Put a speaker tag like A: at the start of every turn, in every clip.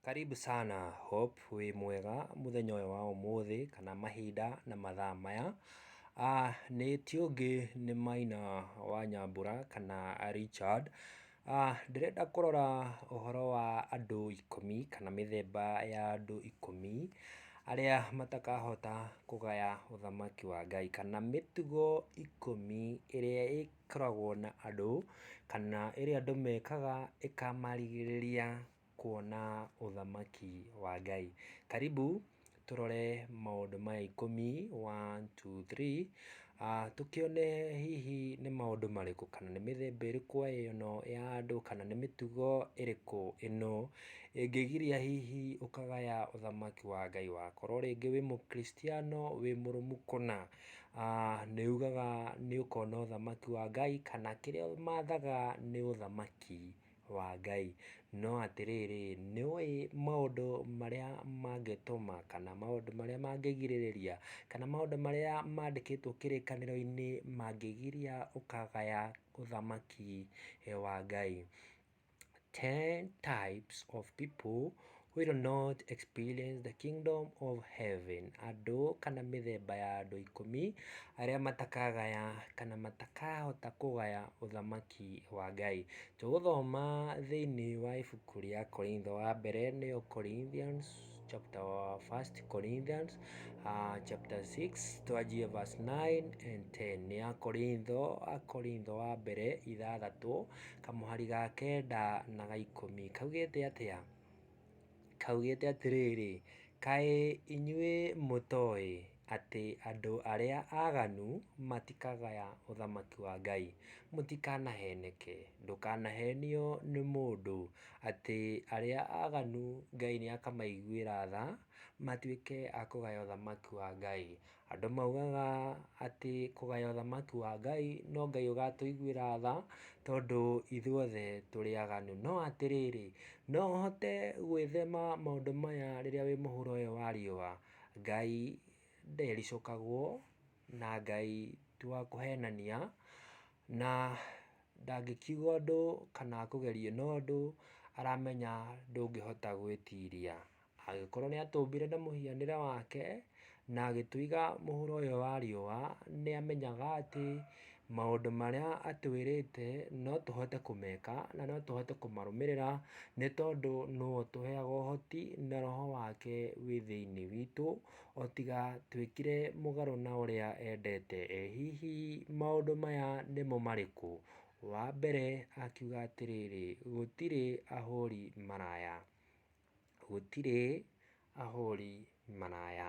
A: Karibu sana Hope, wĩ mwega mũthenya ũyũ wa ũmũthĩ kana mahinda na mathaa maya? Nĩ ti ũngĩ nĩ Maina wa Nyambura kana Richard. Ndĩrenda kũrora ũhoro wa andũ ikũmi kana mĩthemba ya andũ ikũmi arĩa matakahota kũgaya ũthamaki wa Ngai, kana mĩtugo ikũmi ĩrĩa ĩkoragwo na andũ, kana ĩrĩa andũ mekaga ĩkamarigĩrĩria. kuona ũthamaki wa Ngai. Karibu tũrore maũndũ maya ikũmi, one, two, three, tũkĩone hihi nĩ maũndũ marĩkũ kana nĩ mĩthemba ĩrĩkũ ĩno ya andũ kana nĩ mĩtugo ĩrĩkũ ĩno ĩngĩgiria hihi ũkagaya ũthamaki wa Ngai. Wakorwo rĩngĩ wĩ Mũkristiano wĩ mũrũmu kũna, nĩ ugaga nĩ ũkona ũthamaki wa Ngai kana kĩrĩa ũmathaga nĩ ũthamaki wa Ngai. No atĩrĩrĩ, nĩũĩ maũndũ marĩa mangĩtũma kana maũndũ marĩa mangĩgirĩrĩria kana maũndũ marĩa mandĩkĩtwo kĩrĩkanĩro-inĩ mangĩgiria ũkagaya ũthamaki wa Ngai? Ten types of people Will not experience the kingdom of heaven andũ kana mĩthemba ya andũ ikũmi arĩa matakagaya kana matakahota kũgaya ũthamaki wa Ngai. Tũgũthoma thĩinĩ wa ibuku rĩa Korintho wa mbere nĩyo Corinthians chapter first Corinthians uh, chapter 6 twanjie verse 9 and 10 ya Korintho Korintho wa mbere ithathatũ kamũhari ga kenda na ga ikũmi kaugĩte atĩa? kaugĩte atĩrĩrĩ, Kaĩ inyuĩ mũtoĩ atĩ andũ arĩa aganu matikagaya ũthamaki wa Ngai? Mũtikanaheneke, ndũkanahenio nĩ mũndũ atĩ arĩa aganu Ngai nĩakamaiguĩra tha matuĩke a kũgaya ũthamaki wa Ngai. Andũ maugaga atĩ kũgaya ũthamaki wa Ngai no Ngai ũgatũiguĩra tha, tondũ ithuothe tũrĩ aganu. No atĩrĩrĩ, no ũhote gwĩthema maũndũ maya rĩrĩa wĩ mũhuro ũyũ wa riũa? Ngai ndericũkagwo, na Ngai ti wa kũhenania, na ndangĩkiuga ũndũ kana akũgerie na ũndũ aramenya ndũngĩhota gwĩtiria. Agĩkorwo nĩatũmbire na mũhianĩre wake, na agĩtũiga mũhuro ũyũ wa riũa, nĩamenyaga atĩ maũndũ marĩa atwĩrĩte no tũhote kũmeka na no tũhote kũmarũmĩrĩra nĩ tondũ nĩwe ũtũheaga ũhoti na roho wake wĩ thĩiniĩ witũ, o tiga twĩkire mũgarũ na ũrĩa endete. Ĩ hihi maũndũ maya nĩmo marĩkũ? Wa mbere akiuga atĩrĩrĩ, gũtirĩ ahũri maraya. Gũtirĩ ahũri maraya.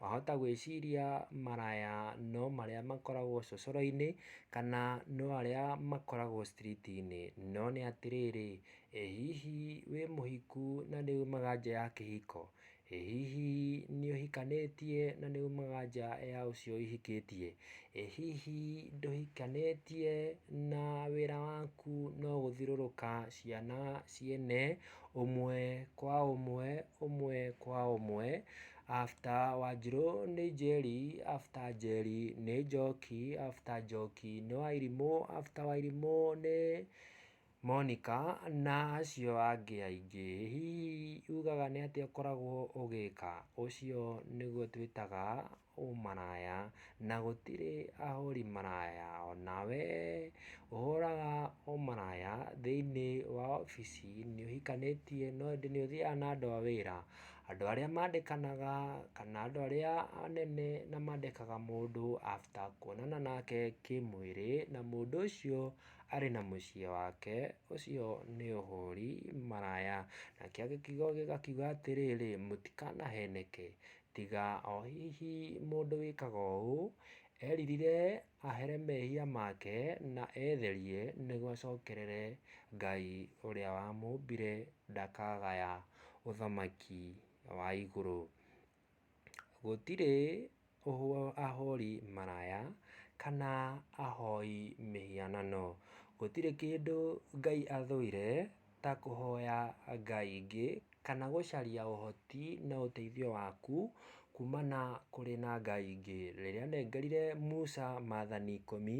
A: Wahota gwĩciria maraya no marĩa makoragwo cocoro-inĩ, kana no arĩa makoragwo street -inĩ. No nĩ atĩrĩrĩ, ĩ hihi wĩ mũhiku na nĩ umaga nja ya kĩhiko? Ĩ hihi nĩ ũhikanĩtie na nĩ umaga nja ya ũcio ũhikĩtie? Ĩ hihi ndũhikanĩtie na wĩra waku no gũthiũrũrũka ciana ciene Ũmwe kwa ũmwe, ũmwe kwa ũmwe, after Wanjirũ nĩ Njeri, after Njeri nĩ Njoki, after Njoki nĩ Wairimũ, after Wairimũ nĩ Monika na acio angĩ aingĩ. Hihi ugaga nĩ atĩa ũkoragwo ũgĩka? Ũcio nĩguo twĩtaga ũmaraya na gũtirĩ ahũri maraya ona wee ũhũraga ũmaraya thĩinĩ wa obici nĩ ũhikanĩtie no ĩndĩ nĩ ũthiaga na andũ a wĩra, andũ arĩa mandĩkanaga kana andũ arĩa anene na mandĩkaga mũndũ after kuonana nake kĩmwĩrĩ na mũndũ ũcio arĩ na mũciĩ wake ũcio nĩ ũhũri maraya, nakĩo gĩkiugo gĩgakiuga atĩrĩrĩ mũtikanaheneke Tiga o hihi mũndũ wĩkaga ũũ eririre ahere mehia make na etherie nĩguo acokerere Ngai ũrĩa wamũmbire ndakagaya ũthamaki wa igũrũ. Gũtirĩ ahũri maraya kana ahoi mĩhianano. Gũtirĩ kĩndũ Ngai athũire. ta kũhoya ngai ingĩ, kana gũcaria ũhoti na ũteithio waku kumana kũrĩ na ngai ingĩ. Rĩrĩa anengerire Musa mathani ikũmi,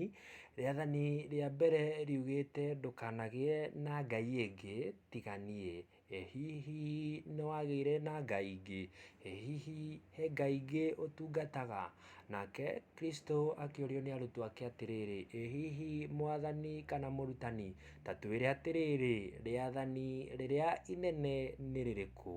A: rĩathani rĩa mbere riugĩte ndũkanagĩe na ngai ĩngĩ tiga niĩ. Ĩ hihi nĩwagĩire na ngai ingĩ? Ĩ hihi he ngai ingĩ ũtungataga? Nake Kristũ akĩũrio nĩ arutwo ake atĩrĩrĩ, Ĩ hihi Mwathani kana Mũrutani, ta twĩre atĩrĩrĩ, rĩathani rĩrĩa inene nĩ rĩrĩkũ?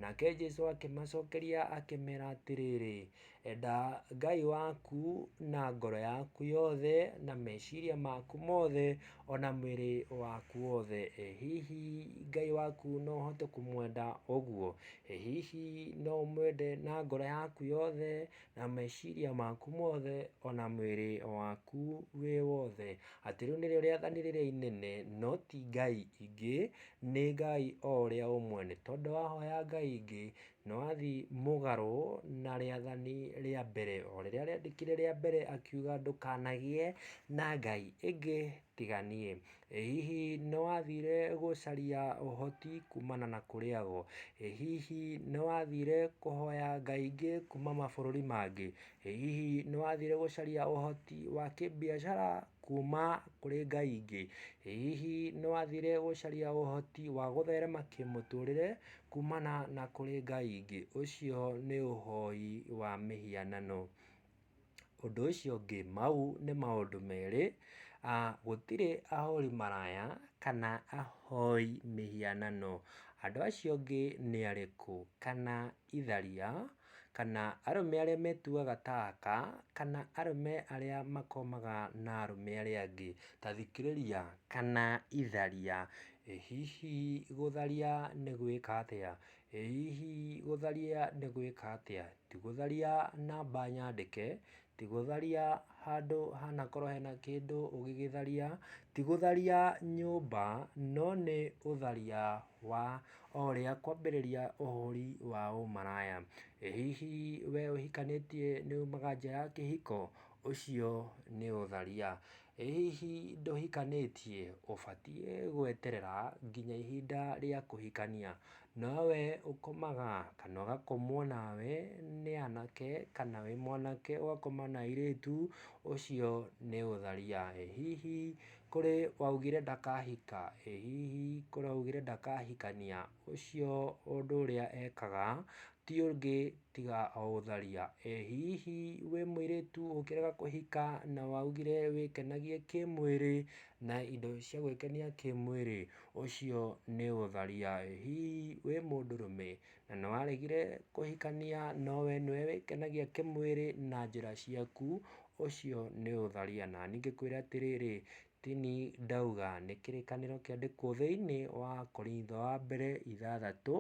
A: Nake Jesũ akĩmacokeria akĩmera atĩrĩrĩ, Enda Ngai waku na ngoro yaku yothe, na meciria maku mothe, o na mwĩrĩ waku wothe. Ĩ hihi Ngai waku no ũhote kũmwenda ũguo? Ĩ hihi no ũmwende na ngoro yaku yothe, na meciria maku mothe, o na mwĩrĩ waku wĩ wothe? Atĩ rĩu nĩrĩo rĩathani rĩrĩa inene, no ti ngai ingĩ, nĩ Ngai o ũrĩa ũmwe. Nĩ tondũ wahoya ngai ingĩ, Na wathiĩ mũgarũ na rĩathani rĩa mbere o rĩrĩa rĩandĩkire rĩa mbere akiuga ndũkanagĩe na ngai ĩngĩ tiga niĩ. Ĩ hihi nĩ wathire gũcaria ũhoti kumana na kũrĩ ago? Ĩ hihi nĩ wathire kũhoya ngai ingĩ kuma mabũrũri mangĩ? Ĩ hihi nĩ wathire gũcaria ũhoti wa kĩmbiacara kuma kũrĩ ngai ingĩ? Ĩ hihi nĩ wathire gũcaria ũhoti wa gũtherema kĩmũtũrĩre kuumana na kũrĩ ngai ingĩ, ũcio nĩ ũhoi wa mĩhianano. Ũndũ ũcio ũngĩ, mau nĩ maũndũ merĩ, gũtirĩ ahũri maraya kana ahoi mĩhianano. Andũ acio angĩ nĩ arĩkũ? Kana itharia? kana arũme arĩa metuaga ta aka, kana arũme arĩa makomaga na arũme arĩa angĩ. Ta thikĩrĩria kana itharia. Ĩ hihi gũtharia nĩ gwĩka atĩa? Ĩ hihi gũtharia nĩ gwĩka atĩa? Ti gũtharia namba nyandĩke, Ti gũtharia handũ hanakorwo hena kĩndũ ũgĩgĩtharia, ti gũtharia nyũmba, no nĩ ũtharia wa o ũrĩa kwambĩrĩria ũhũri wa ũmaraya. Ĩ hihi we ũhikanĩtie nĩ umaga nja ya kĩhiko? Ũcio nĩ ũtharia. Ĩ hihi ndũhikanĩtie? Ũbatiĩ gweterera nginya ihinda rĩa kũhikania. No we ũkomaga kana ũgakomwo nawe nĩ anake kana wĩ mwanake ũgakoma na airĩtu, ũcio nĩ ũtharia. Ĩ hihi kũrĩ waugire ndakahika? Ĩ hihi kũrĩ waugire ndakahikania? ũcio ũndũ ũrĩa ekaga ti ũngĩ tiga o gũtharia. Ĩ hihi wĩ mũirĩtu ũngĩrega kũhika na waugire wĩkenagie kĩmwĩrĩ na indo cia gwĩkenia kĩmwĩrĩ, ũcio nĩ gũtharia. Ĩ hihi wĩ mũndũrũme na nĩ waregire kũhikania no we nĩwe wĩkenagia kĩmwĩrĩ na njĩra ciaku, ũcio nĩ gũtharia. Na niĩ ngĩkwĩre atĩrĩrĩ, Tini ndauga nĩ kĩrĩkanĩro kĩandĩkwo thĩinĩ wa Akorintho wa mbere ithathatũ,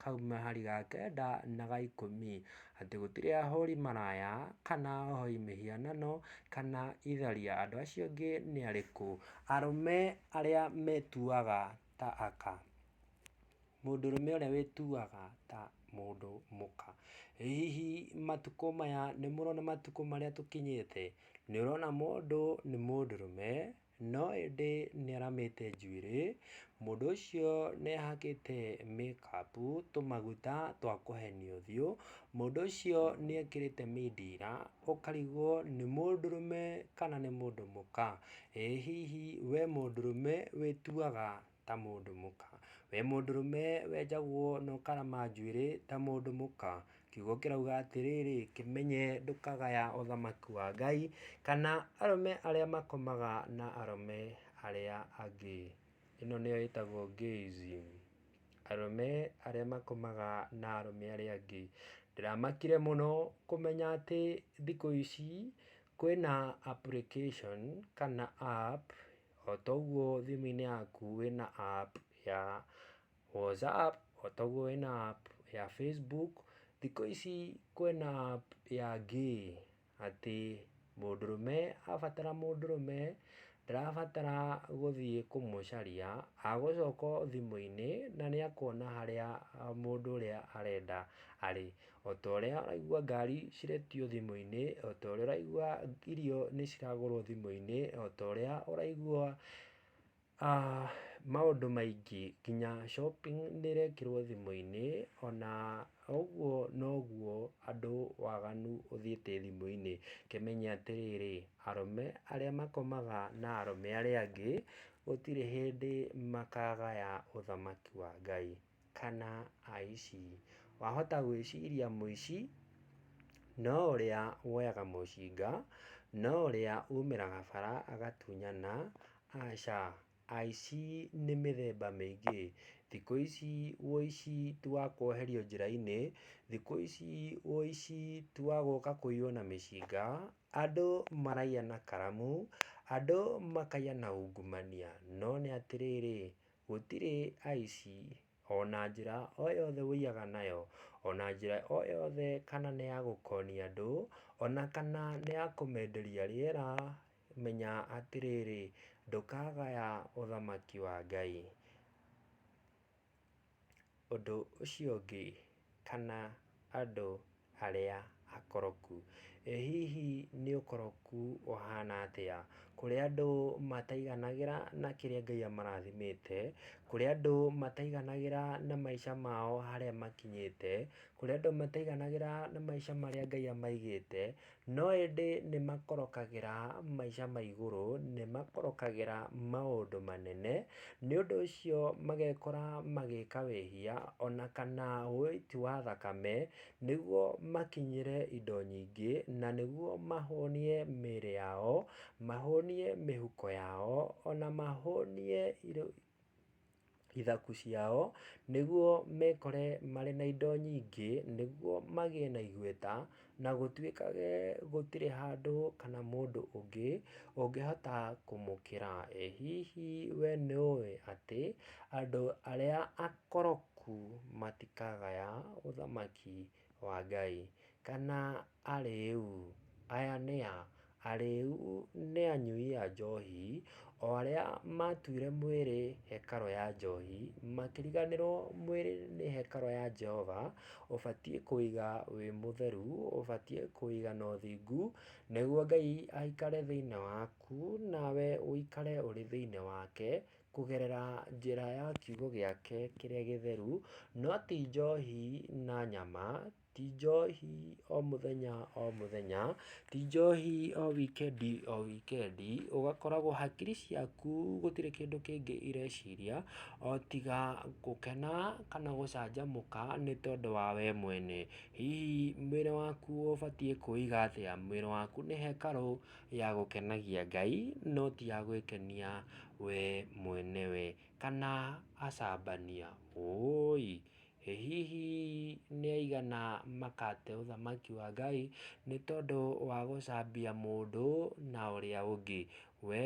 A: kauma hari ga kenda na ga ikũmi, atĩ gũtirĩ ahũri maraya, kana ohoi mĩhianano, kana itharia, andũ acio angĩ nĩ arĩkũ? arũme arĩa metuaga ta aka. Mũndũrũme ũrĩa wĩtuaga ta mũndũ mũka. Ĩ hihi matukũ maya nĩ mũrona matukũ marĩa tũkinyĩte? Nĩ ũrona mũndũ nĩ mũndũrũme no ĩndĩ nĩ aramĩte njuĩrĩ, mũndũ ũcio nĩ ehakĩte make up tũmaguta twa kũhenia ũthiũ, mũndũ ũcio nĩ ekĩrĩte mindira, ũkarigwo nĩ mũndũrũme kana nĩ mũndũ mũka. Ĩ hihi we mũndũrũme wĩtuaga ta mũndũ mũka. Wĩ mũndũrũme wenjagwo na ũkarama njuĩrĩ ta mũndũ mũka. Kiugo kĩrauga atĩrĩrĩ, kĩmenye ndũkagaya ũthamaki wa Ngai, kana arũme arĩa makomaga na arũme arĩa angĩ. Ĩno nĩyo ĩtagwo gayism. Arũme arĩa makomaga na arũme arĩa angĩ. Ndĩramakire mũno kũmenya atĩ thikũ ici kwĩna application kana app O ta ũguo thimũ-inĩ yaku wĩna app ya WhatsApp, o ta ũguo wĩna app ya Facebook, thikũ ici kwĩna app ya Gay, atĩ mũndũrũme abatara mũndũrũme, ndarabatara gũthiĩ kũmũcaria, agũcoka o thimũ-inĩ na nĩakuona harĩa mũndũ ũrĩa arenda arĩ. o ta ũrĩa ũraigua ngari ciretio thimũ-inĩ, o ta ũrĩa ũraigua irio nĩ ciragũrwo thimũ-inĩ, o ta ũrĩa ũraigua maũndũ maingĩ nginya shopping nĩ ĩrekĩrwo thimũ-inĩ, ona ũguo noguo andũ waganu ũthiĩte thimũ-inĩ. Kĩmenye atĩrĩrĩ, arũme arĩa makomaga na arũme arĩa angĩ, gũtirĩ hĩndĩ makagaya ũthamaki wa Ngai. kana aici. Wahota gwĩciria mũici no ũrĩa woyaga mũcinga, no ũrĩa umĩraga bara agatunyana? Aca, aici nĩ mĩthemba mĩingĩ. Thikũ ici ũici ti wa kwoherio njĩra-inĩ, thikũ ici ũici ti wa gũka kũiywo na mĩcinga, andũ maraiya na karamu, andũ makaiya na ungumania. No nĩ atĩrĩrĩ, Gũtirĩ aici, o na njĩra o yothe ũiyaga nayo, o na njĩra o yothe kana nĩ ya gũkonia andũ, o na kana nĩ ya kũmenderia rĩera, menya atĩrĩrĩ, ndũkagaya ũthamaki wa Ngai. Ũndũ ũcio ũngĩ, kana andũ arĩa akoroku. Ĩ hihi nĩ ũkoroku ũhana atĩa? Kũrĩa andũ mataiganagĩra na kĩrĩa Ngai amarathimĩte, kũrĩa andũ mataiganagĩra na maica mao harĩa makinyĩte, kũrĩa andũ mataiganagĩra na maica marĩa Ngai amaigĩte, No ĩndĩ nĩ makorokagĩra maica ma igũrũ, nĩ makorokagĩra maũndũ manene, nĩ ũndũ ũcio magekora magĩka wĩhia, ona kana ũiti wa thakame, nĩguo makinyĩre indo nyingĩ, na nĩguo mahũnie mĩĩrĩ yao, mahũnie mĩhuko yao, ona mahũnie ithaku ciao, nĩguo mekore marĩ na indo nyingĩ, nĩguo magĩe na igweta, na gũtuĩkage gũtirĩ handũ kana mũndũ ũngĩ ũngĩhota kũmũkĩra. Ĩ hihi we nĩ ũĩ atĩ andũ arĩa akoroku matikagaya ũthamaki? wa Ngai, kana arĩĩu, aya nĩ a? Arĩĩu nĩ anyui a njohi, o arĩa matuire mwĩrĩ hekarũ ya njohi, makĩriganĩrwo mwĩrĩ nĩ hekarũ ya Jehova, ũbatiĩ kũiga wĩ mũtheru, ũbatiĩ kũiga na ũthingu, nĩguo Ngai aikare thĩiniĩ waku, nawe ũikare ũrĩ thĩiniĩ wake. Kũgerera njĩra ya kiugo gĩake kĩrĩa gĩtheru, no ti njohi na nyama, ti njohi o mũthenya o mũthenya, ti njohi o wikendi o wikendi, ũgakoragwo hakiri ciaku gũtirĩ kĩndũ kĩngĩ ireciria o tiga gũkena kana gũcanjamũka nĩ tondũ wa we mwene. Hihi mwĩrĩ waku ũbatiĩ kũwĩiga atĩa? Mwĩrĩ waku nĩ hekarũ ya gũkenagia Ngai no ti ya gwĩkenia we mwene we kana acambania ũũi. Ĩ hihi nĩ aigana makate ũthamaki wa Ngai nĩ tondũ wa gũcambia mũndũ na ũrĩa ũngĩ? We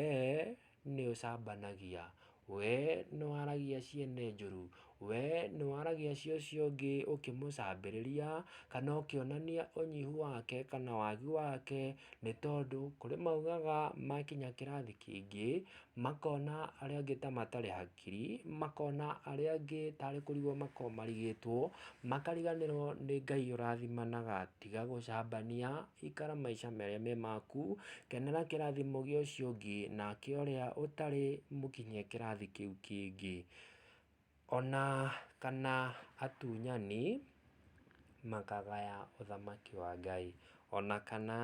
A: nĩũcambanagia, wee nĩwaragia ciene njũru, wee nĩwaragia cia ũcio ũngĩ ũkĩmũcambĩrĩria, kana ũkĩonania ũnyihu wake kana wagi wake, nĩ tondũ kũrĩ maugaga makinya kĩrathi kĩngĩ makona arĩa angĩ ta matarĩ ha. kiri, makona arĩa angĩ tarĩ kũrigwo makoragwo marigĩtwo, makariganĩrwo nĩ Ngai ũrathimanaga, tiga gũcambania, ikara maica marĩa me maku, kenera kĩrathimo gĩa ũcio ũngĩ, nake ũrĩa ũtarĩ mũkinyie kĩrathi kĩu kĩngĩ, ona kana atunyani makagaya ũthamaki wa Ngai, ona kana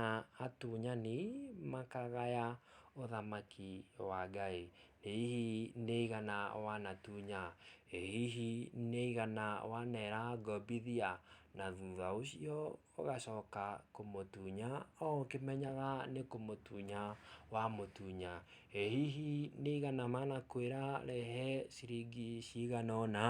A: atunyani makagaya ũthamaki wa Ngai. Ĩ hihi nĩ igana wanatunya? Ĩ hihi nĩ igana wanera ngombithia? Na thutha ũcio ũgacoka kũmũtunya o ũkĩmenyaga nĩ kũmũtunya wamũtunya. Ĩ hihi nĩ igana manakwĩra rehe ciringi cigana ũna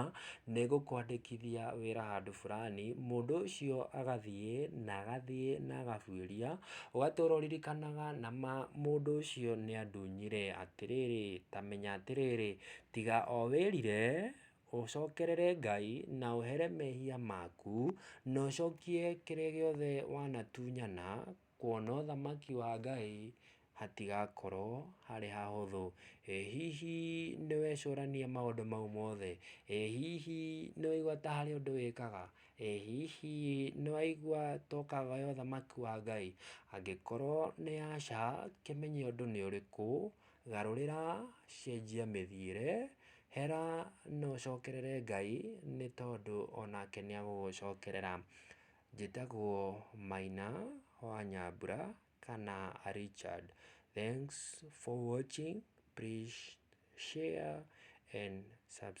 A: nĩ ngũkwandĩkithia wĩra handũ burani, mũndũ ũcio agathiĩ na agathiĩ na agabuĩria Ũgatũra ũririkanaga na ma mũndũ ũcio nĩ andunyire atĩrĩrĩ, ta menya atĩrĩrĩ, tiga o wĩrire, ũcokerere Ngai na ũhere mehia maku, na ũcokie kĩrĩa gĩothe wanatunyana, kuona ũthamaki wa Ngai hatigakorwo harĩ hahũthũ. Ĩ hihi nĩ wecũrania maũndũ mau mothe? Ĩ hihi nĩ waigua ta harĩ ũndũ wĩkaga? Ĩ hihi nĩwaigua tokaga ĩ ũthamaki wa Ngai? Angĩkorwo nĩ aca, kĩmenye ũndũ nĩ ũrĩkũ, garũrĩra, cenjia mĩthiĩre, hera na ũcokerere Ngai nĩ tondũ onake nĩ agũgũcokerera. Njĩtagwo Maina wa Nyambura kana Richard. Thanks for watching, please share and subscribe.